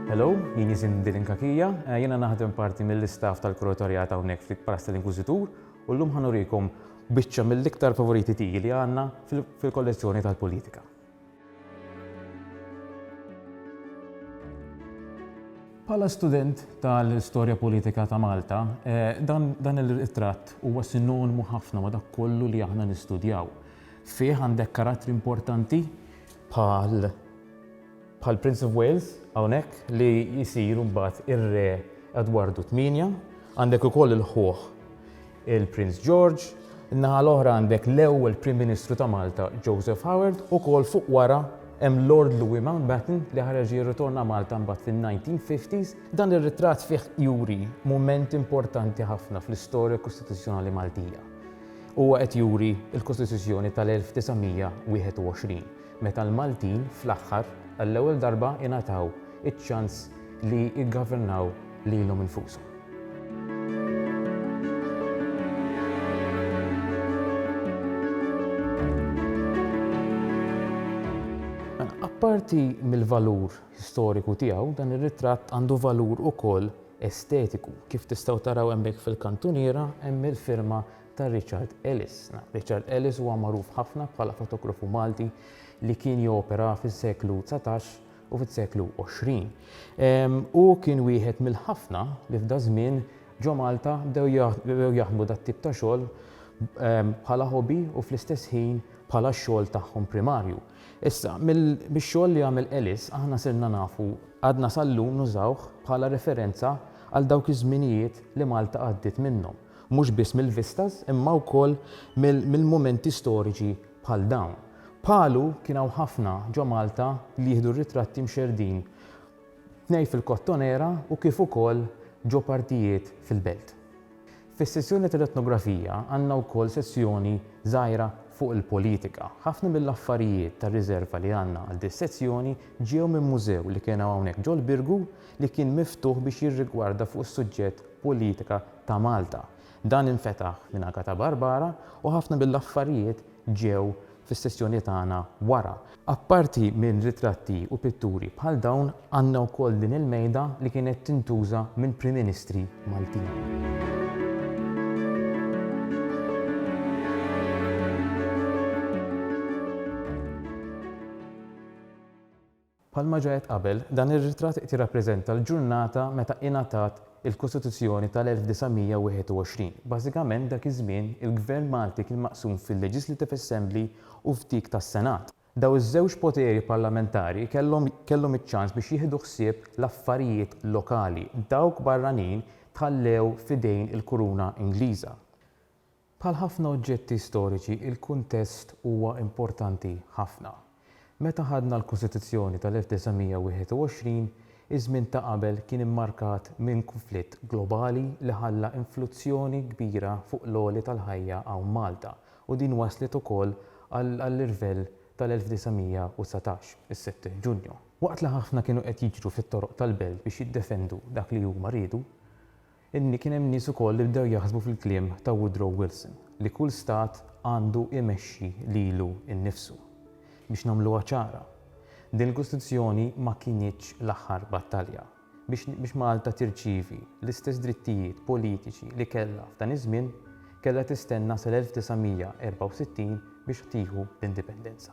Hello, jien jisim Dilin Kakija, eh, jena naħdem parti mill-istaff tal-kuratorjat hawnhekk fi Paras tal-Inkwiżitur u llum ħanurikom biċċa mill-iktar favoriti tiji li għandna fil-kollezzjoni tal-politika. Bħala student tal-istorja politika ta' Malta, dan ir-ritratt huwa sinonmu ħafna ma' dak kollu li aħna nistudjaw. Fih għandek karattri importanti bħal bħal Prince of Wales hawnhekk li jsir mbagħad ir-Re Edwardu 8, għandek ukoll il-ħuħ il-Prince George, in-naħa l-oħra għandek l-ewwel Prim Ministru ta' Malta Joseph Howard, ukoll fuq wara hemm Lord Louis Mountbatten li ħareġ jirritorna Malta mbagħad fin-1950s. Dan ir-ritratt fih juri mument importanti ħafna fl-istorja kostituzzjonali Maltija. Huwa qed juri l-Kostituzzjoni tal-1921. meta l-Maltin fl-aħħar għall-ewwel darba ingħataw iċ-ċans li jiggavernaw lilhom infushom. Apparti mill-valur storiku tiegħu, dan ir-ritratt għandu valur ukoll estetiku. Kif tistgħu taraw hemmhekk fil-kantuniera hemm il-firma ta' Richard Ellis. Richard Ellis huwa magħruf ħafna bħala fotografu Malti li kien jopera fis-seklu dsatax u fis-seklu għoxrin. Hu kien wieħed mill-ħafna li f'daż-żmien ġo Malta bdew jaħdmu dat-tip ta' xogħol bħala hobby u fl-istess ħin bħala x-xogħol tagħhom primarju. Issa, mix-xogħol li għamel Ellis aħna sirna nafu għadna sal-lum nużawh bħala referenza għal dawk iż-żminijiet li Malta għaddiet minnhom. mhux biss mill-vistas imma wkoll mill-mumenti storiċi bħal dawn. Bħalu kien hawn ħafna ġo Malta li jieħdu r-ritratti mxerrdin tnej fil-Kottonera u kif ukoll ġo partijiet fil-Belt. Fis-sezzjoni tal-Etnografija għandna wkoll sezzjoni żgħira fuq il-politika. Ħafna mill-affarijiet tar-riżerva li għandna għal dis-sezzjoni ġew minn mużew li kena hawnhekk ġol-Birgu li kien miftuħ biex jirrigwarda fuq is-suġġett politika ta' Malta. Dan infetaħ minn Agata Barbara u ħafna mill-affarijiet ġew fis-sessjoni tagħna wara. Apparti minn ritratti u pitturi bħal dawn għandna wkoll din il-mejda li kienet tintuża minn Prim Ministri Maltin. Bħalma ġa għedt qabel, dan ir-ritratt qed jirrappreżenta l-ġurnata meta ingħatat il-Kostituzzjoni tal-1921. Bażikament dak iż-żmien il-Gvern Malti kien maqsum fil-Legislative Assembly u f'dik tas-Senat. Dawn iż-żewġ poteri parlamentari kellhom kellhom iċ-ċans biex jieħdu ħsieb l-affarijiet lokali, dawk barranin tħallew f'idejn il-Kuruna Ingliża. Bħal ħafna oġġetti storiċi, il-kuntest huwa importanti ħafna. Meta ħadna l-Kostituzzjoni tal-1921, iż-żmien ta' qabel kien immarkat minn kunflitt globali li ħalla influzzjoni kbira fuq l-għoli tal-ħajja hawn Malta u din wasslet ukoll għall-irvell tal-1919, is-Sett Ġunju. Waqt li ħafna kienu qed jiġru fit-toroq tal-belt biex jiddefendu dak li huma riedu, Imma kien hemm nies ukoll li bdew jaħsbu fil-kliem ta' Woodrow Wilson li kull stat għandu imexxi lilu nnifsu. Biex nagħmluha ċara, din il-Kostituzzjoni ma kinitx l-aħħar battalja biex Malta tirċievi l-istess drittijiet politiċi li kellha f'dan iż-żmien, kellha tistenna sal-1964 biex tieħu l-Indipendenza.